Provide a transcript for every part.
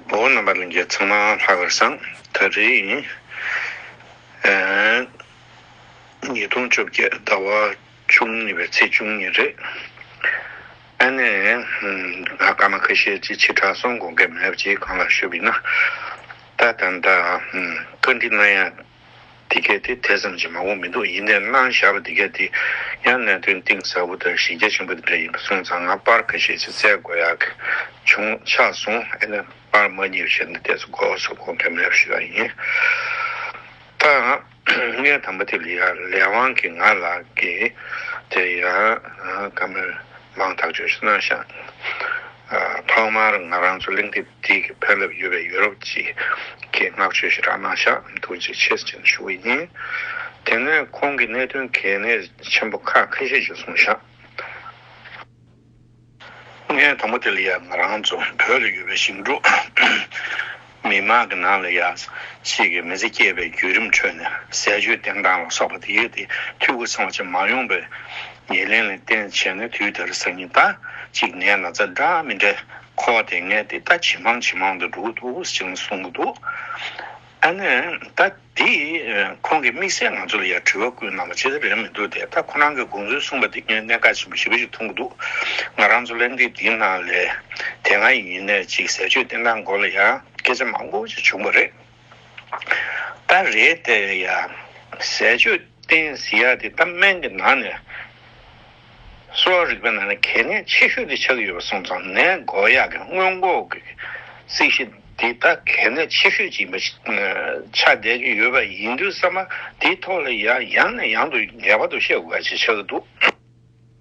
བོད་རྣམ་པ་གླིང་རྒྱལ་ཚང་མ་ལྷ་གར་སང་ད་རེས་ཡིན། ཉིས་སྟོང་བཅོ་བརྒྱད་ཟླ་བ་བཅུ་གཉིས་པའི་ཚེས་བཅུ་གཉིས་རེད། ཨ་ནེ། ང་ཀ་མ་ཁ་ཤས་ཀྱི་ཕྱི་དྲག་སོང་དགོངས་འགལ་མེད་པ་ཅིག་གང་ལ་ཞུ་བས་ན། ད་ད་ད། བཀའ་འདྲི་གནང་ཡ། འདི་སྐད་དེ་དེ་ཙམ་གྱིས་མང་བོ་མི་འདུག་ཡིན་ནའི་སྣང་བཞག་པ་འདི་སྐད་དེ་ཡང་གནད་དོན་གཏིང་ཟབ་བོ་དང་གཞི་རྒྱ་ཆེན་པོ་དེ་འདྲ་ཡིན་པ་སོང་ཙང་ང་པར་ག་ཤེད་ཅིག་བཙལ་དགོས་ཡག་གི་བྱུང་ཆགས་སོང་ཨེ་ན་པར་མ་གཉིས་བྱས་ནས་བལྟས་ཚེ་གོ་བ་སོགས་གོ་མཁན་མེད་པ་ཞིག་ཀྱང་ཡིན། ད་ངའི་དམ་པ་དེ་ལི་ཡ་ལས་དབང་གིས་ང་ལ་གི་དེ་ཡང་ག་མེད་མང་ཐག་ཆོད་ཤིག་སྣང་བཞག་ཐོག་མར་ང་རང་ཚོ་གླིང་འདི་དེའི་གི་ཕན་རླབས་ཡོད་པའི་ཡུ་རོབ་ཀྱི་གི་མངགས་བཅོལ་ཞིག་རག་གནང་ཤག་འདུག་ཅེས་ཆེད་བཅར་ཞུ་གི་ཡིན། དེ་སྔོན་ཁོང་གི་གནད་དོན་གལ་གནད་ཆེན་པོ་ཁག་ཁ་ཤས་ཞིག་གསུངས་ཤག། ངའི་དང་པོ་དེ་ལ་ཡ་ང་རང་ཚོ་བོད་ལ་ཡོད་པའི་ཞིང་འབྲོག་མི་དམངས་གི་ནང་ལ་ཡ་ཕྱིས་གི་མི་ཚེ་སྐྱེལ་བའི་བརྒྱུད་རིམ་ཁྲོད་ནས་ཟས་སྤྱོད་བསྟེན་སྟངས་ལ་སོགས་པ་དེ་ཡོད་དེ་འཐུས་སྒོ་ཚང་བ་ཅན་མ་ཡོང་པའི་ཉེར་ལེན་ལ་བརྟེན་བྱས་ནས་དུས་དེར་སང་ཉིན་ད་ཅིག་ངའི་ན་ཚ་འདྲ་མི་འདྲ་ཁོ་དེ་སྔའི་དེ་ད་ཇེ་མང་ཇེ་མང་དུ་འགྲོ་གི་འདུག་ཅེས་གསུངས་ཀྱི་འདུག་ཨ་ནི་ད་དེ་ཁོང་གི་དམིགས་བསལ་ང་ཚོ་ལ་ཡང་དྲི་བ་བསྐུལ་གནང་བ་ཇི་ལྟར་རེད་མི་འདུག་དེ་ད་ཁོ་རང་གི་དགོངས་ཚུལ་གསུངས་པ་དེ་ངས་གནད་འགག་ཆེན་པོ་ཞིབ་པོ་ཞིག་མཐོང་གི་འདུག་ང་རང་ཚོ་གླེང་སྟེགས་འདིའི་ནང་ལས་དེ་སྔ་ཡིན་ནའི་ཅིག་ཟས་སྤྱོད་བསྟེན་སྟངས་སྐོར་ལ་ཡང་སྐད་ཆ་མང་པོ་ཞིག་བྱུང་བ་རེད། ད་རེས་དེ་ཡང་ཟས་སྤྱོད་བསྟེན་ཟིན་ཡག་དེ་ད་སྨན་གྱི་ནང་ནས་གསོ་བ་རིག་པའི་ནང་ནས་གལ་གནད་ཆེ་ཤོས་དེ་ཆགས་ཀྱི་ཡོད་པ་སོང་ཙང་ནད་འགོ་ཡག་གི་སྔོན་འགོག་གི་རྩིས་གཞི་འདི་ད་གལ་གནད་ཆེ་ཤོས་ཅིག་ཡིན་པ་ཆགས་བསྡད་ཀྱི་ཡོད་པ་ཡིན་དུས་ས་མ་དེའི་ཐོག་ལ་ཡང་ཡང་ནས་ཡང་དུ་ངེས་པར་དུ་བཤད་དགོས་པ་ཞིག་ཆགས་ཀྱི་འདུག།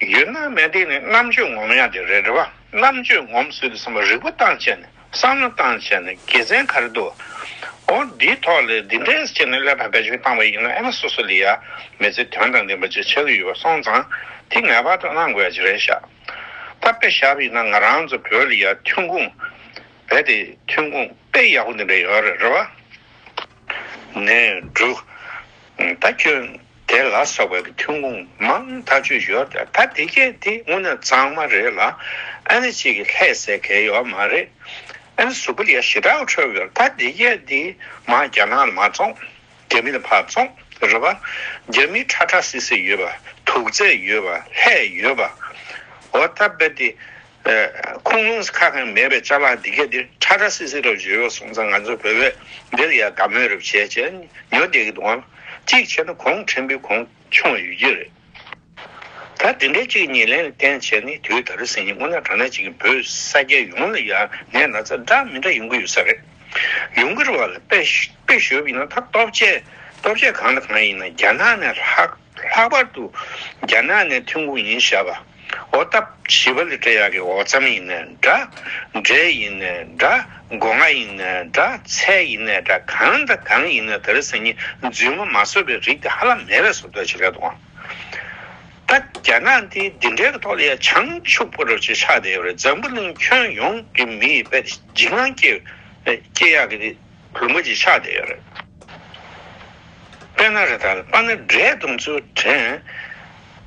ཡུལ་སྣང་མེད་དེ་ནི་རྣམ་དཔྱོད་ངོམ་ཡང་དེ་རེད་འདྲ་བ་རྣམ་དཔྱོད་ངོམ་ཟོས་ཀྱི་སེམས་པ་རིག་པ་སྟངས་བྱས་ནས་བསམ་བློ་སྟངས་བྱས་ནས་དགེ་མཚན་ག་རེ་འདུག་ཨོ་འདིའི་ཐོག་ལས་འདི་འདྲའི་ཆེད་ནས་ཀླད་པ་བེད་སྤྱོད་བཏང་བ་ཡིན་ན་ཨེ་མ་སོ་སོ་ལས་ཡར་མེད་ཚེ་དོན་དང་ལྡན་པ་ཅིག་བྱེད་ཀྱི་ཡོད་པ་སོང་ཙང་དེ་ངེས་པར་དུ་གནང་དགོས་ཡ་ཅིག་རེད་ཤག་ད་དཔེ་ཞབས་ཡིན་ན་ང་རང་ཚོ་བོད་ལ་ཡར་ཐོན་ཁུངས་རྦད་དེ་ཐོན་ཁུངས་དཔེ་ཡག་པོ་འདི་འདྲ་ཡོད་རེད་འདྲ་བ། ནས་འདྲུག། ད་ཁྱོད་དེ་ལ་སོགས་པའི་ཐོན་ཁུངས་མང་དག་ཆུ་ཡོད་དེ་ད་དེ་གས་དེ་དངོས་གནས་གཙང་མ་རེད་ལ་ཨ་ནི་གཅིག་གི་ལྷད་ཟེར་གས་ཡོད་མ་རེད་ཨ་ནི་ཟུར་པོ་ལས་ཞེ་དྲག་འཕྲོས་ཡོད་ད་དེ་གས་དེ་མ་རྒྱ་ནག་ལ་མ་བཙོང་རྒྱ་མི་ལ་ཕར་བཙོང་རེད་པ་རྒྱ་མི་ཁྲ་ཁྲ་སི་སི་ཡོད་པ་དུག་རྫས་ཡོད་པ་ལྷད་ཡོད་པ་འོ་ད་དཔེར་དེ་ཁུངས་ལུང་ཁ་ཁང་མེད་པའི་བཅའ་ལག་འདི་གས་འདིར་ཁྲ་ཁྲ་སིལ་སིལ་རབ་བྱེད་ཡོད་སོང་ཙང་ང་ཚོ་བོད་པས་འདིར་ཡང་དགའ་མོས་རབ་བྱེད་ཅེས་ཉོ་བསྡད་ཀྱི་འདུག་ཨང། གཅིག་བྱས་ན་གོང་ཕྲན་བུའི་གོང་མཆོངས་ཡོད་ཀྱི་རེད། ད་དེ་འདྲའི་གཅིག་གཉིས་ལན་ལ་བསྟན་བྱས་ནས་དུས་ད་རེས་ཟིན་ཉིན་སྔོན་ན་དྲ་གནས་གཅིག་གིས་བོད་ས་སྐྱའི་ཡོངས་ལ་ཡང་ནས་ན་ཚ་འདྲ་མི་འདྲ་ཡོང་གི་ཡོད་ས་རེད། ཡོང་གི་རེད་བ་ལ་དཔེ་ཞོ་བི་ན་ད་སྟོབས་ཆེ་སྟོབས་ཆེ་གང་དང་གང་ཡིན་ན་རྒྱ་ནག་ནས་ལྷག། ལྷག་པར་དུ་རྒྱ་ནག་ནས་ཐོན་ཁུངས་ཡིན་བྱ་བ། འོ་སྟབས་བྱིས་པ་ལི་ཀྲ་ཡག་གི་འོ་རྩམ་ཡིན་ནའི་འདྲ། འབྲས་ཡིན་ནའི་འདྲ། སྒོ་ང་ཡིན་ནའི་འདྲ། ཚལ་ཡིན་ནའི་འདྲ་གང་དང་གང་ཡིན་ནའི་དར་ཟེར་ཉིན་རྫུན་ངོ་མ་བཟོ་བའི་རིགས་དེ་ཧ་ལམ་མེད་པའི་ཟོབ་ཏོག་ཅིག་རེད་དོ། ད་རྒྱ་ནག་འདི་འདི་འདྲའི་གི་ཐོག་ལ་ཡ་བྱང་ཆུབ་པོ་རོ་ཅིག་ཆགས་བསྡད་ཡོད་རེད་འཛམ་བུ་གླིང་ཁྱོན་ཡོངས་ཀྱི་མི་ཡི་དཔལ་དེ་འཇིགས་སྣང་སྐྱེ། སྐྱེ་ཡག་གི་བུ་མོ་གྱི་ཕྱག་དེ་རེད། པེ་ན་རེ་ད་ལ་པ་ན་འབྲས་དུང་ཆུ་བྲན་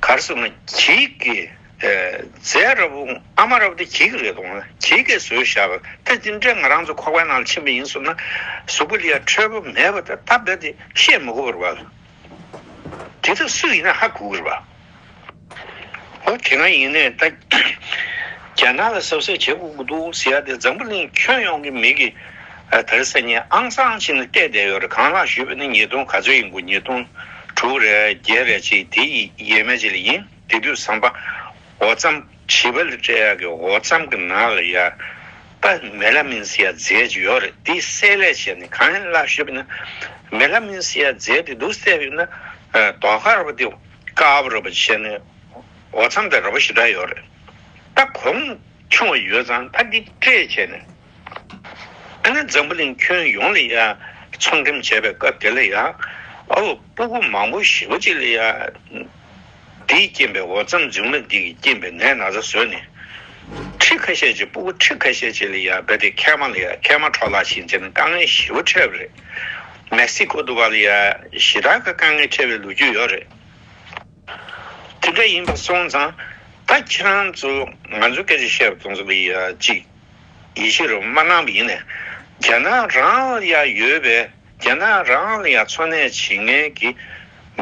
གར་སོ་ན་གྱིས་ཀྱི་རྫས་ར་བུ་ཨ་མ་ར་བུ་དེ་གྱིས་ཀྱི་རེད་དོང་ན་གྱིས་ཀྱི་ཟོས་བཞག་པ་དེ་དེ་འདྲས་ང་རང་ཚོ་ཁོག་པའི་ནང་ལ་ཕྱིན་པ་ཡིན་ཟུར་ན་ཟུར་པོ་ལི་ཡ་ཁྲོལ་པོ་མེད་པ་དེ་ད་རྦད་དེ་བཤད་མི་དགོས་པར་བ་ལ་དེ་དག་སུ་ཡིན་ན་ཧ་གོ་གི་རེད་བ། ཨོ་དེ་འང་ཡིན་ནའི་ད་རྒྱ་ནག་ལ་གསབ་གསབ་བྱེད་དགོས་ཀྱི་འདུག་ཟེར་ཡ་དེ་འཛམ་བུ་གླིང་ཁྱོན་ཡོངས་ཀྱི་མི་གི་ད་རེ་སེམས་ཉིད་ཨང་གསང་བྱེད་ནི་བལྟས་བསྡད་ཡོད་རེད་གང་ལགས་ཞུས་པ་ནི་ཉིས་སྟོང་ག་ཚོད་ཡིན་དགོས་ཉིས་སྟོང་དྲུག་རེད་བརྒྱད་རེད་ཅེས་དེ་ཡི་ཡས་མས་ཅི་ལ་ཡིན་དེ་དུས་བསམ་པ་འོ་བརྩམ་བྱིས་པ་ལ་སྤྲད་ཡག་གི་འོ་བརྩམ་གི་ནང་ལ་ཡ་པ་མེ་ལ་མིན་ཟེར་ཡ་རྫས་ཅིག་ཡོད་རེད་དེ་བསྲེས་ལས་བྱས་ནི་གང་ཡིན་ལགས་ཞུས་པ་ནི་མེ་ལ་མིན་ཟེར་ཡ་རྫས་དེ་འདུག་བསྲེས་ཡོད་ན་དོག་གར་བ་དེ། སྐབས་རེ་བོ་ཆེ་ནི་འོ་འཚམ་པའི་རེ་བ་ཞིག་འདྲ་ཡོད་རེད། ད་གོང་ཆུང་བ་ཡོད་ཙང་ད་འདི་སྤྲད་བྱས་ནས་ཨ་ནེ་འཛམ་བུ་གླིང་ཁྱོན་ཡོངས་ལ་ཡང་ཚོང་འགྲེམས་བྱས་པའི་སྐབས་དེ་ལ་ཡང་ཨ་བུ་སྤུ་གུ་མང་བོ་ཞི་བ་ཅིག་ལ་ཡང་འདིས་རྐྱེན་པས་འོ་འཚམ་འཛིང་མ་འདི་གིས་རྐྱེན་པས་ནད་ན་ཚ་བཟོས་ནས་ཁྲི་ཁ་ཤས་ཅིག་སྤུ་གུ་ཁྲི་ཁ་ཤས་ཅིག་ལ་ཡང་རྦད་དེ་ཁལ་མ་ལ་ཡང་ཁལ་མ་འཕྲོག་ལགས་ཤིང་བྱས་ནས་དཀའ་ངལ་ཞི་བ་འཕྲད་པ་རེད། མེག་སི་ཀོ་དུ་བ་ལི་ཡ་ཞི་དྲག་གི་དཀའ་ངལ་འཕྲད་པའི་ལོ་རྒྱུས་ཡོད་རེད། དེ་འདྲ་ཡིན་པ་སོང་ཙང་ད་ཁྱེད་རང་ཚོ་ང་ཚོ་སྐད་ཆ་བཤད་པ་དང་ཚོ་གི་ཅིག་ཡིད་ཆེས་རོགས་མ་གནང་བ་ཡིན་ནའི་རྒྱ་ནག་རང་ལ་ཡ་ཡོད་པའི་རྒྱ་ནག་རང་ལ་ཡ་འཚོ་གནས་བྱེད་ངན་གི་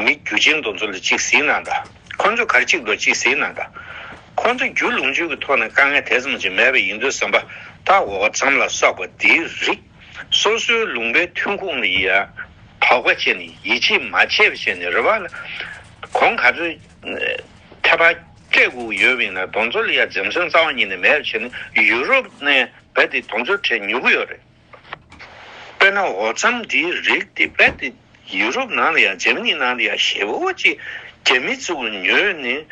མི་རྒྱུ་ཅན་དང་ཚོ་ལ་ཅིག་ཟིག་གནང་ད་ཁོ་ཚོ་གར་ཅིག་འགྲོ་ཅིག་ཟིག་གནང་ད་ཁོ་ཚོ་རྒྱུ་ལུང་ཆོས་ཀྱི་ཐོག་ནས་དཀའ་ངལ་དེ་ཙམ་ཅིག་མེད་པ་ཡིན་དུས་ཟམ་པ་ད་འོག་ཙམ་ལ་སོགས་པ་འདིའི་རིགས། སོ་སོའི་ལུང་པའི་ཐོན་ཁུངས་ལ་ཡི་དྭོགས་པ་བྱས་ནས་ཡིད་ཆེས་མ་བྱས་པ་བྱས་ནས་རེ་བ་ལ་གོང་ག་ཚོད་ཐད་པ་སྤྲད་དགོས་ཡོད་མིན་ལ་གདོང་ཚོད་ལ་ཡ་འཛེམ་སེམས་གཙང་བ་གཉིས་ནས་མེད་པ་བྱས་ནས་ཡུ་རོབ་ནས་རྦད་དེ་གདོང་ཚོད་ཕྲད་མྱུ་གུ་ཡོད་རེད། དཔེར་ན་འོ་རྩམ་འདིའི་རིགས་དེ་རྦད་དེ་ཡུ་རོབ་ནང་ལ་ཡ་འཇེམ་གཉིས་ནང་ལ་ཡ་ཞེ་བོ་གཅིག་རྒྱ་མི་ཚོས་ཉོས་ནས་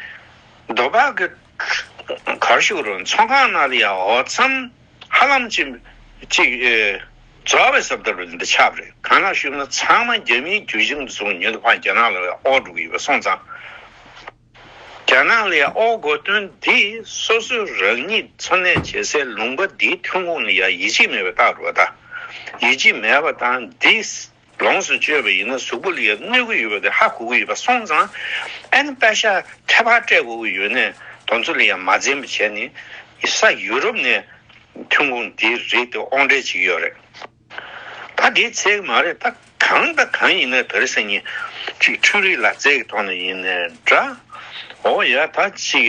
རྡོ་བག་གིས་གར་ཞུགས་རུང་ཚོང་ཁང་ནང་ལ་ཡ་འོ་རྩམ་ཧ་ལམ་ཅི། གཅིག། རྫ་བའི་སྲབ་དར་བའི་འདི་ཆབ་རེད་གང་ན་བཤུས་ན་ཚང་མ་རྒྱ་མིའི་རྒྱུད་གཞུང་དུ་སོང་ཉོན་དུ་ཕངས་རྒྱ་ནག་ལ་ཨོ་སྒྲུག་གི་ཡོད་པ་སོང་ཙང། རྒྱ་ནག་ལའི་ཨོ་སྒོ་སྟོན་འདི་སོ་སོའི་རང་ཉིད་འཚོ་གནས་བྱེད་སའི་ལུང་པ་འདིའི་ཐོན་ཁུངས་ནི་ཡང་ཡིད་ཆེས་མེད་པའི་རྟགས་རུ་བ་ད། ཡིད་ཆེས་མེད་པ་དང་འདིས། ལོངས་སུ་སྤྱོད་པ་ཡིན་ན་གཟུགས་པོ་ལ་ཡང་གནོད་གི་ཡོད་པ་དེ་ཧ་གོ་གི་ཡོད་པ་སོང་ཙང་ཨན་ནི་པད་ཤག་ཁྲལ་བག་སྤྲད་དགོས་ཀྱི་ཡོད་ནས་དོན་ཚོ་ལ་ཡང་མ་འཛེམ་པ་བྱས་ནས་ས་ཡུ་རོབ་ནས་ཐོན་ཁུངས་དེ་རིགས་དེ་ཨོང་སྤྲད་བྱེད་ཀྱི་ཡོད་རེད་ད་དེའི་ཚད་གི་མ་རེད་ད་གང་དང་གང་ཡིན་ན་བོད་རིགས་སེམས་ཉིད་ཅིག་འཕྲུལ་རིགས་ལག་རྩལ་གྱི་ཐོག་ནས་ཡིན་ནའི་འདྲ་འོ་ཡ་ད་ཅིག་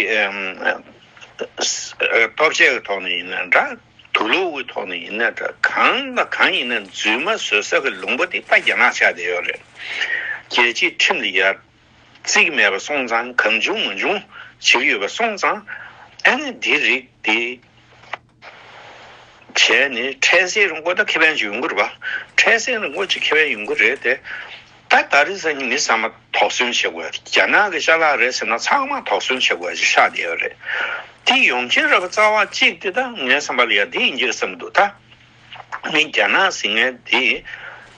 སྟོབས་ཆས་གི་ཐོག་ནས་ཡིན་ནའི་འདྲ། དུ་གློག་འོད་ཐོག་ནས་ཡིན་ན་འདྲ་གང་ལ་གང་ཡིན་ན་རྫུན་མ་བཟོ་ས་གི་ལུང་པ་དེ་པ་རྒྱ་ནག་ཆགས་བསྡད་ཡོད་རེད་རྒྱལ་སྤྱིའི་ཁྲིམས་ལ་ཡར། བརྩིས་མེད་པ་སོང་ཙང་གང་བྱུང་མ་བྱུང་བྱེད་ཀྱི་ཡོད་པ་སོང་ཙང་ཨ་ནི་འདི་རིགས་དེ་བྱས་ནས་འཕྲལ་སེལ་རུང་གོ་ད་ཁེ་ཕན་ཅིག་ཡོང་གི་རེད་པ་འཕྲལ་སེལ་རུང་གོ་ཅིག་ཁེ་ཕན་ཡོང་གི་རེད་དེ། ད་ད་རེས་ཟེར་ནི་མི་ཚང་མ་དོགས་ཟོན་བྱེད་དགོས་རྒྱ་ནག་གི་ཤ་ལག་རེད་ཟེར་ན་ཚང་མ་དོགས་ཟོན་བྱེད་དགོས་ཞེས་ཤག་བསྡད་རེད་དེ་ཡོང་ཁྱེད་ར་བ་རྩ་བ་གཅིག་དེ་ད་ངའི་བསམ་པ་ལ་ཡ་དེ་ཡིན་རྒྱུ་རེད་བསམ་འདུག་ད་མི་རྒྱ་ནག་ཟིང་ངན་དེ་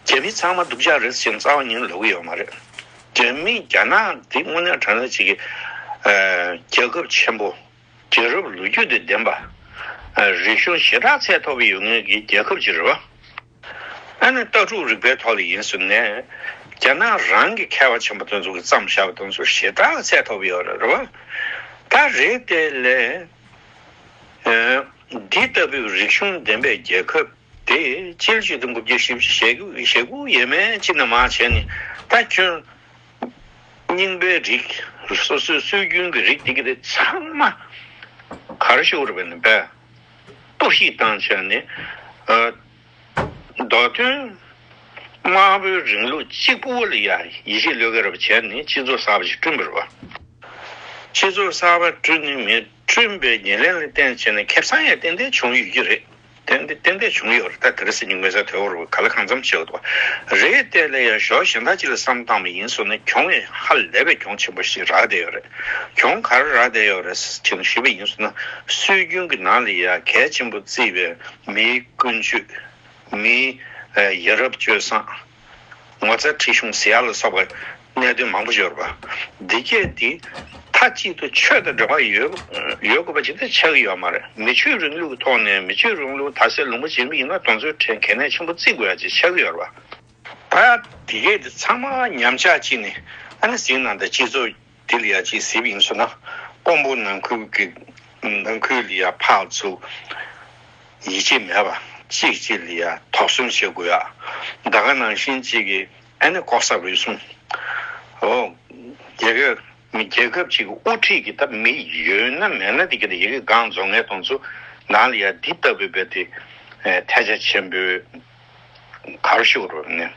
རྒྱ་མི་ཚང་མ་སྡུག་ཅག་རེད་ཟེར་ནི་རྩ་བ་ཉིན་ལོག་གི་ཡོད་མ་རེད་རྒྱ་མི་རྒྱ་ནག་དེ་དངོས་གནས་དྲང་གནས་བྱེད་ཀྱི་རྒྱ་ཁབ་ཆེན་པོ་རྒྱལ་རབས་ལོ་རྒྱུས་དེ་ལྡན་པ་རིག་གཞུང་ཞེ་དྲག་ཚད་མཐོ་བའི་ཡོད་ངེས་ཀྱི་རྒྱལ་ཁབ་ཅིག་རེད་བ། ཨ་ནི་ལྟ་གྲུབ་རིག་པའི་ཐོག་ལ་ཡིན་ཟེར་ནས་རྒྱ་ནག་རང་གི་མཁས་པ་ཆེན་པོ་དེ་ཚོ་གི་བརྩམས་བཞག་པ་དེ་ཚོ་ཞེ་དྲག་གསལ་ཐོབ་ཡོད་རེད་བ། ད་རེས་དེ་ལས་འདི་ལྟ་བུའི་རིག་གཞུང་ལྡན་པའི་རྒྱལ་ཁབ་དེ་སྤྱི་ལོ་བཅུ་དང་དགུ་བརྒྱ་ཞེ་བཞི་ཞེ་དགུ་ཡས་མས་སྤྱི་ན་མ་བྱས་ནས་ད་ཁྱོད་རྙིང་པའི་རིགས་སོ་སོའི་སྲོལ་རྒྱུན་གྱི་རིགས་དེ་གི་དེ་ཚང་མ་གར་ཤོར་བས་ན་བས། གཏོར་བཤིག་བཏང་བྱས་ནས། མདོ་དོན་དམར་པོའི་རིང་ལུགས་གཅིག་པུ་ཨོ་ལི་ཡ་ཡེ་ཤེས་བློས་བཀལ་བར་བྱས་ནས་སྤྱི་ཚོགས་གསར་པ་ཞིག་བསྐྲུན་དགོས་པ། སྤྱི་ཚོགས་གསར་པ་བསྐྲུན་ནས་མི་བསྐྲུན་པའི་ཉེར་ལེན་ལ་བརྟེན་བྱས་ནས་ཁེབས་སང་ཡང་ཏན་ཏན་བྱུང་ཡོད་ཀྱི་རེད། ཏན་ཏན་བྱུང་ཡོད་རེད་ད་དེ་རེ་སི་ཉིག་དམེ་ས་དེ་འོར་ག་ལ་གང་འཚམ་བྱེད་འོ་རེད་ཏེ་ལེ་ཡང་ཞོ་གཞན་དག་ཅིག་ལ་བསམ་བཏང་བ་ཡིན་སོང་ན་གྱོང་ཧ་ལས་པའི་གྱོང་ཆེན་པོ་ཞིག་རག་བསྡད་ཡོད་རེད། གྱོང་གར་རག་བསྡད་ཡོད་རེད་ཟེར་གྱིན་ཞུས་པ་ཡིན་ཟེར་ན་སྲོལ་རྒྱུན་གྱི་ནང་ལ་ཡང་གལ་ཆེན་པོ་བརྩི་བའི་མིའི་ཀུན་སྤྱོད། མིའི་ཡ་རབས་སྤྱོད་བཟང། ངོ་ཚ་ཁྲེལ་གཞུང་བཟི་ཡ་ལ་སོགས་པའི་གནད་དོན་མང་པོ་འབྱོར་བ། འདི་སྐད་དེ་མཐའ་གཅིག་ཏུ་ཆོས་དང་འབྲེལ་བ་ཡོད་དགོས་པ་ཇི་ལྟར་ཆགས་ཀྱི་ཡོད་མ་རེད། མི་ཆོས་རིང་ལུགས་ཀྱི་ཐོག་ནས་མི་ཆོས་རིང་ལུགས་དར་སྲོལ་ལུང་པ་འབྱིན་རྒྱུ་ཡིན་ན་གྲོང་ཚོའི་གྲས་གལ་གནད་ཆེན་པོ་བརྩི་དགོས་ཡ་ཅེས་ཆགས་ཀྱི་ཡོད་རེད་པ། ད་དེ་གས་དེ་ཚང་མ་ཉམས་ཆག་ཅིག་ནས་ཨ་ནི་ཟིང་ནང་དང་སྤྱི་ཚོགས་དེ་ལ་ཡ་གཅིག་གཟིབ་ཡིན་ཚོད་ན་ཀོང་པོ་ནང་ཁུལ་གི་ནང་ཁུལ་ལ་ཡ་ཕག་ཚུགས་ཡིད་ཆེས་མེད་པ་གཅིག་གཅིག་ལ་ཡ་དོགས་གསུམ་བྱེད་དགོས་ཡ་ད་ག་ནང་བཞིན་གཅིག་གི་ཨ་ནི་ལྐོག་ཟ་རུལ་སུངས་ཨོ་རྒྱལ་ཁབ་མི་རྒྱལ་ཁབ་ཅིག་གི་དབུ་ཁྲིད་ཀྱི་ད་མི་ཡོད་ན་མེད་ན་དེ་གས་དེ་ཡ་གི་སྒང་རྫོང་ངས་དང་ཚུགས་ནང་ལ་ཡ་འདི་ལྟ་བུའི་བས་དེ་ཐལ་ཆ་ཆེན་པོའི་གར་ཤོག་རོ་ནི།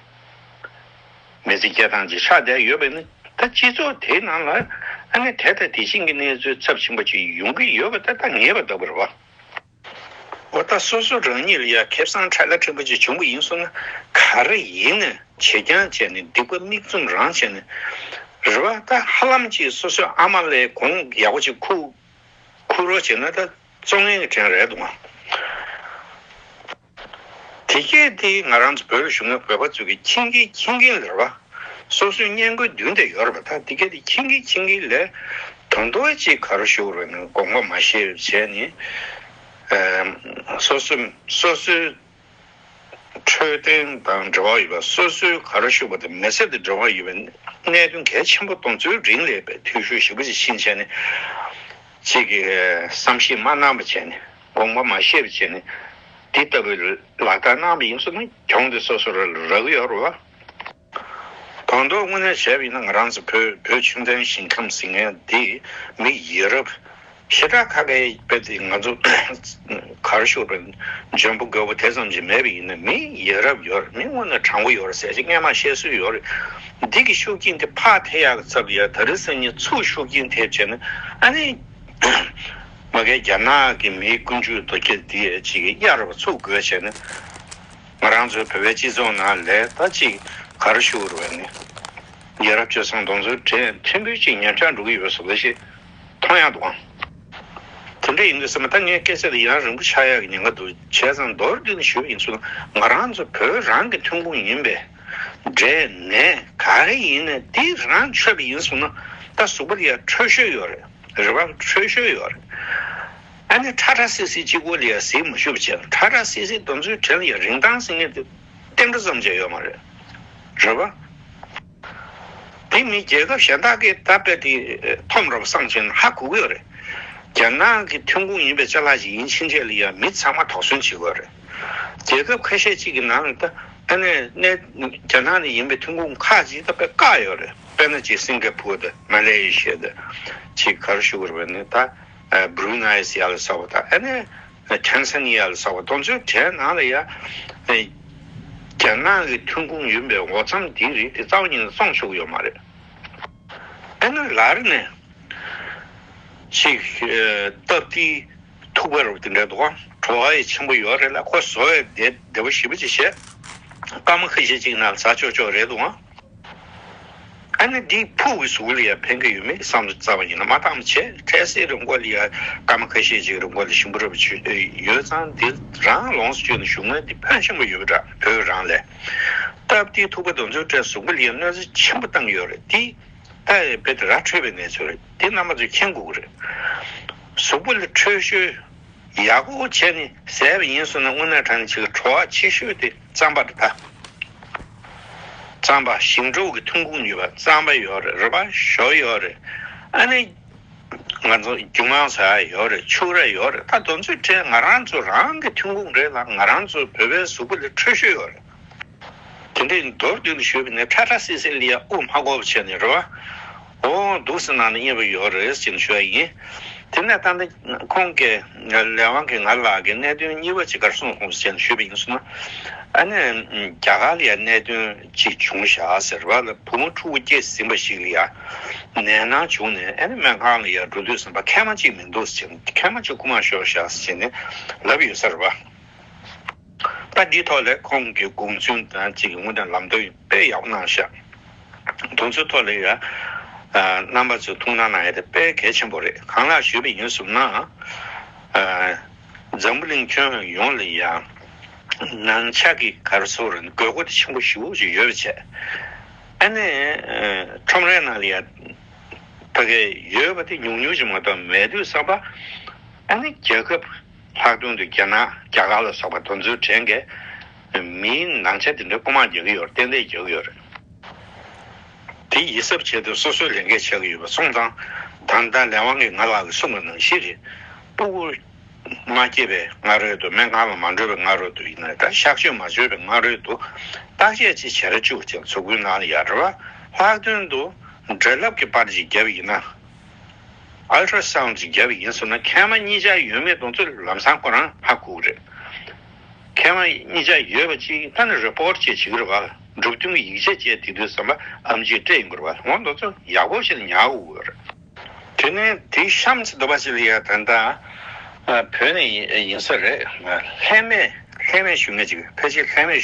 མེ་ཙི་སྐྱེ་ཐང་ཅིག་ཆགས་བསྡད་ཡོད་པས་ན་ད་སྤྱི་ཚོགས་དེའི་ནང་ལ་ཨ་ནི་དེ་ལྟ་དེ་བཞིན་གྱི་གནས་ཚུལ་ཚབས་ཆེན་པོ་ཅིག་ཡོང་གི་ཡོད་པ་ད་ལྟ་ངེས་པ་འདུག་པར་བ། འོ་ད་སོ་སོ་རང་ཉིད་ལ་ཡང་ཁེ་བཟང་ཁྲ་ཁ་ཕྲན་བུ་ཅིག་བྱུང་གི་ཡིན་སོང་ན་ག་རེ་ཡིན་ནས་བྱེད་རྐྱང་བྱས་ནས་སྡིག་པ་མིག་བཙུམ་རང་བྱས་ནས་རེད་བ་ད་ཧ་ལམ་ཅིག་སོ་སོའི་ཨ་མ་ལའི་གོང་ཡག་པོ་ཅིག་ཁུག་ཁུག་རོགས་བྱས་ན་ད་གཙོ་ངན་གྱི་དྲན་རེད་འདུག། དེ་སྐད་དེ་ང་རང་ཚོ་བོད་ལ་བཞུགས་ན་བོད་པ་ཚོ་གི་ཁྱིམ་གྱི་ཁྱིམ་རྒན་ལས་པ་སོ་སོའི་བརྙན་བཀོད་མདུན་དེ་ཡོད་རེད་པ་ད་དེ་སྐད་དེ་ཁྱིམ་གྱི་ཁྱིམ་རྒན་ལས་དོན་དོ་བས་ཅི་ག་རུ་བཞུགས་རོགས་གནང་དགོངས་པ་མ་ཤེས་རེ་བྱས་ནས་སོ་སོ་སོ་སོའི་འཕྲོད་བསྟེན་དང་འབྲེལ་བ་ཡོད་པ་སོ་སོའི་ག་རུ་བཞུགས་པ་དེ་མི་སེར་དང་འབྲེལ་བ་ཡོད་པའི་གནད་དོན་གལ་ཆེན་པོ་གཏོང་ཚུལ་རིང་ལས་པའི་འཐུས་ཤོར་ཞིག་པོ་ཅི་ཕྱིན་བྱས་ནས་ཅི་གི་བསམ་ཤེས་མ་གནང་པ་བྱས་ནས། དགོངས་པ་མ་ཤེས་པའི་ཕྱིར་ནི། དེ་ལྟ་བུའི་ལག་རྟགས་སྣང་བ་ཡིན་ཚུལ་ནི་གྱོང་དེ་སོ་སོར་རགས་ཡོད་རུང་བ། དོན་རྟོགས་དངོས་གནས་བྱས་པ་ཡིན་ན་ང་རང་ཚོ་བོད་བོད་ཁྱིམ་ཚང་ཞིང་ཁམས་ཟིང་ངེ་འདི་མིག་ཡིད་རབ་ཞེ་དྲག་ཁ་ཁའི་དཔེ་དེ་ང་ཚོ་གར་ཤོར་བའི་འཇོན་པོ་རྒོད་པོ་དེ་ཙམ་ཞིག་མེད་པ་ཡིན་ན་མིག་ཡིད་རབ་ཡོད་མིན་དངོས་གནས་དྲང་པོ་ཡོད་ཟེར་ཆེད་ངས་མ་བཤད་སྲོལ་ཡོད་རེད། འདི་གི་ཤུགས་རྐྱེན་དེ་ཕག་ཐེ་ཡག་གི་ཚབ་ཡ་ད་རི་སེམས་ཉིད་ཚུགས་ཤུགས་རྐྱེན་ཐེབས་བྱས་ན་ཨ་ནི། མ་གལ་རྒྱ་ནག་གི་མིའི་ཀུན་སྤྱོད་རྡོ་སྐྱེས་འདི་གཅིག་གཡར་བ་ཚུགས་དགོས་བྱས་ན། ང་རང་ཚོའི་བོད་པའི་སྤྱི་ཚོགས་ནང་ལས་ད་གཅིག་གར་ཞུ་རུ་བ་ནི། རྒྱལ་རབས་སྤྱོད་བཟང་གདོང་ཚོད་བྲེལ་ཕྲན་བུའི་ཅིག་ཉར་ཆག་འགྲོ་གི་ཡོད་ཟེར་བ་ཞིག་མཐོང་ཡག་འདུག་ཨང། དེ་འདྲ་ཡིན་དགོས་སེམས་པ་ད་ངའི་སྐད་ཆ་དེ་ཡང་རིང་པོ་ཆགས་ཡག་གི་ཉེན་ཁ་འདུག་བྱས་ཙང་མདོར་བསྡུས་ནས་ཞུས་པ་ཡིན་ཚུལ་ན་ང་རང་ཚོ་བོད་རང་གི་ཐོན་ཁུངས་ཡིན་པས། འབྲས་ནས་ག་རེ་ཡིན་ནས་དེ་རང་ཆོད་པ་ཡིན་གསུངས་ན་ད་གཟུགས་པོར་ཡང་འཕྲོད་ཤོས་ཡོད་རེད། རེ་བ་འཕྲོད་ཞོར་ཡོད། ཨ་ནི་ཁྲ་ཁྲ་སིག་སིག་གཅིག་གོ་ལའི་ཟིལ་མ་ཤུབ་བྱས་ཁྲ་ཁྲ་སིག་སིག་འདོན་ཚུལ་དྲན་ཡོད་རིན་ཐང་སིང་ངེ་འདི་གཏན་འགྲོ་ཙམ་བྱས་ཡོད་མ་རེད། རེ་བ། དེ་མིན་རྒྱལ་ཁབ་གཞན་དག་གིས་ད་རྦད་དེ་ཐོམ་རབ་སངས་ཆེན་ཧ་གོ་གི་ཡོད་རེད། རྒྱ་ནག་གི་ཐོན་ཁུངས་ཡིན་པའི་ལྕེ་ལྷག་ཅིག་ཡིན་ཕྱིན་ཆད་ལ་ཡང་མི་ཚང་མ་དོགས་ཟོན་བྱེད་དགོས་རེད། རྒྱལ་ཁབ་ཁ་ཤས་ཅིག་གི་ནང་ལ་ད་ཨ་ནི་རྒྱ་ནག་ནས་ཡིན་པའི་ཐོན་ཁུངས་ཁག་ཅིག་ད་རྦད་བཀག་ཡོད་རེད། དཔེར་ན་ཅིག་སིང་ག་ཕོར་དང་མ་ལེ་ཡེ་ཤེ་དང་ཅིག་གྷ་རུ་ཤུ་རུ་བ་ནི་དང་བྷྲུ་ན་ཡེ་སི་ཡ་ལ་སོགས་པ་དང་ཨ་ནེ་ཐན་ས་ནི་ཡ་ལ་སོགས་པ་དང་ཚོའི་གྲས་ནང་ལ་ཡང་རྒྱ་ནག་གི་ཐོན་ཁུངས་ཡིན་པའི་འོ་རྩམ་དེའི་རིགས་དེ་རྩ་བ་ཉིད་ནས་བཙོང་ཆོག་གི་ཡོད་མ་རེད། ཨ་ནེ་ལར་ནས་ཅིག་སྟབས་བདེའི་ཐུག་པ་རུ་དེ་འདྲའི་དུ་བ་བྲོ་བ་ཡི་ཆེན་པོ་ཡོད་རེད་ལ་ཁོ་བཟོ་བའི་སྡེ་བ་ཞིབ་པོ་ཅིག་བྱས་སྐར་མ་ཁ་ཤས་ཅིག་ནང་ཟ་ཆོག་ཆོག་རེད་དུ་བ། ཨ་ནི་འདིའི་ཕུག་གི་ཟུག་ལ་ཡང་ཕན་གི་ཡོད་མེད་བསམ་རྩ་བ་ཡིན་ན་མ་ཐག་མི་བྱེད་འཕྲལ་སེལ་རིམས་འགོག་ལ་ཡང་སྐར་མ་ཁ་ཤས་ཅིག་རིམས་འགོག་ལ་ཞིམ་པོ་རེ་བ་བྱོས་ཡོད་ཙང་འདི་རང་ལོངས་སུ་སྤྱོད་ན་ཞུགས་མོད་འདི་ཕོན་ཆེན་པོ་ཡོད་འདྲ་བོད་རང་ལས། སྟབས་དེའི་ཐུག་པ་རྡོ་འཛོལ་འཕྲལ་ཟུག་པ་ལ་ཡང་གནོད་འཚེ་ཆེན་པོ་བཏང་ཡོད་རེད་དེ། ད་ཡང་རྦད་དེ་ར་འཕྲོད་པའི་གནས་ཚུལ་རེད་དེ་རྣམ་པ་ཚོས་མཁྱེན་དགོས་ཀྱི་རེད། ཟུག་པ་ལ་འཕྲོད་ཤོས་ཡག་པོ་བྱས་ནས་ཟས་པ་ཡིན་སོང་ན་དངོས་གནས་དྲ་ནས་བྱེད་ཀྱི་གྲོགས་ཆེ་ཤོས་དེ། རྩམ་པ་རིལ་པ། རྩམ་པ་ཞིང་འབྲོག་གི་ཐོན་ཁུངས་ཡོད་པ་རྩམ་པ་ཡོད་རེད་རིལ་པ་ཞོ་ཡོད་རེད་ཨ་ནི། ང་ཚོ་རྒྱུ་མང་ས་ཡོད་རེད་ཕྱུགས་ར་ཡོད་རེད་ད་དོན་ཚོད་ཁྲལ་ང་རང་ཚོ་རང་གི་ཐོན་ཁུངས་རེད་ལ་ང་རང་ཚོ་བོད་པའི་གཟུགས་པོ་ལས་འཕྲོད་ཤོས་ཡོད་རེད། དེ་འདྲའི་མདོར་བསྡུས་ལ་ཞུས་པ་ནི་ཁྲ་ཁྲ་སིལ་སིལ་ལི་ཡ་དབུ་མ་གོ་བ་བྱས་ནས་རིལ་བ། འོ་འདུག་སེམས་ནང་ནས་གཉེར་བ་ཡོད་རེད་ཅེས་ཞུ་བ་ཡིན། དེ་ནས་ད་ནི་ཁོང་གི་ལས་དབང་གིས་ང་ལགས་ཀྱི་གནད་དོན་གཉིས་པ་ཅིག་གར་སོང་ཞེས་ཞུས་པ་ཡིན་གསུངས། ཨ་ནེས་རྒྱ་གར་ལ་ཡང་གནད་དོན་ཅིག་བྱུང་ཞག་ཟེར་བ་ལ་བུ་མོ་ཕྲུ་གུ་སྐྱེས་ཟིན་པ་ཞིག་ལ་ཡང་ནད་ནང་བྱུང་ནས་ཨ་ནེ་སྨན་ཁང་ལ་ཡང་འགྲོ་དུས་ཟམ་པ་ཁལ་མ་གཅིག་མི་འདུག་ཅེས་ཁལ་མ་གཅིག་བསྐུར་མར་ཤོག་ཞག་ཟེར་ནས་ལབ་ཡོད་ས་རེད་པ། ལྟ་འདིའི་ཐོག་ལས་ཁུངས་ཀྱི་དགོངས་ཚུལ་དང་གཅིག་སྔོན་དུ་ལམ་སྟོན་དཔེ་ཡག་པོ་གནང་ཤག་དགོངས་ཚུལ་ཐོག་ལས་ཡ་རྣམ་པ་ཚོས་ཐུགས་སྣང་གནང་ཡ་དེ་དཔེ་གལ་ཆེན་པོ་རེད་གང་ལགས་ཞུས་པ་ཡིན་གསུངས་ན་འཛམ་བུ་གླིང་ཁྱོན་ཡོངས་ལ་ཡ་ནང་ཆགས་ཀྱི་གར་བཟོ་རུ་དགོས་མཁོ་དེ་ཆེན་པོ་ཞིག་ཡོད་པ་བྱས་ཨ་ནི་ཁྲོམ་རའི་ནང་ལ་ཡ་ཕ་གི་ཡོད་པ་དེ་ཉུང་ཉུང་ཞིག་མ་གཏོགས་མེད་དུས་བསམ་པ་ཨ་ནི་རྒྱལ་ཁབ། ལྷག་དོན་དུ་རྒྱ་ནག་རྒྱ་གར་ལ་སོགས་པ་དོན་ཚུལ་དྲན་གི་མིའི་ནང་ཆ་དེ་འདྲ་རྐུ་མར་རྒྱག་གི་ཡོད་རེད་ཏན་ཏན་རྒྱག་གི་ཡོད་རེད། དེ་ཡིད་གཟབ་བྱས་ཏེ་སོ་སོའི་ལས་འགན་བྱ་གི་ཡོད་པ་སོང་ཙང་ད་ལྟ་ལས་དབང་གིས་ང་ལག་གི་སྲུང་བ་ནང་བཞིན་རེད། སྤུ་གུ་མ་སྐྱེས་པའི་སྔ་རོལ་དུ་སྨན་ཁང་ལ་མ་འགྲོ་བའི་སྔ་རོལ་དུ་ཡིན་ནའི་ད་གཤག་བཅོས་མ་བཅོས་པའི་སྔ་རོལ་དུ་བརྟག་དཔྱད་ཅིག་བྱེད་ར་བཅུག་ཅིང་ཚུར་རྒོལ་གནང་ཡ་རེད་བ། ལྷག་དོན་དུ་འདྲེ་ལབ་ཀྱི་པར་ཅིག་བརྒྱབ་ཡིན་ན། Ultra Sound ཅིག་བརྒྱབ་ཡིན་ཟེར་ན་མཁལ་མ་གཉིས་ཆ་ཡོད་མེད་གདོང་ཚོད་ལམ་སང་ཁོ་རང་ཧ་གོ་གི་རེད། མཁལ་མ་གཉིས་ཆ་ཡོད་པ་ཅིག་ལྟ་ན Report བཅས་བྱེད་ཀྱི་རེད་བ་ལ་འབྲུག་སྟོན་གྱི་ཡིག་ཆ་བཅས་དེ་དུས་ཟམ་པ་ཨམ་ཅིག་སྤྲད་ཡིན་དགོས་རེད་བ་ལ་ངོ་མདོག་ཚོད་ཡག་པོ་ཞིག་ལ་ཉག་གོ་གི་རེད། དེ་ནས་དེའི་གཤམ་ཚིག་དུ་བ་ཅི་ལ་ཡ་ད་ད་བོད་ནས་ཡིན་ས་རེད། ལྷད་མེད་ལྷད་མེད་ཞུ་མེད་ཅིག་ཕལ་ཆེར་ལྷད་མེད།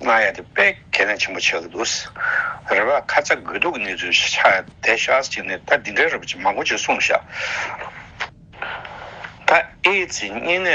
གནང་ཡ་དེ་དཔེ་ཁས་ལེན་ཆེན་པོ་བྱེད་དགོས་འདུག་རེ་བ་ཁ་ཚ་དགོས་གཏུག་གི་གནས་ཚུལ་ཤ་དེ་ཤ་ཅིག་ནི་ད་འདི་འདྲའི་རེ་བ་ཅིག་མང་པོ་ཅིག་གསུངས་ཤག་ད་ཨེ་ཙི་གཉན་ནད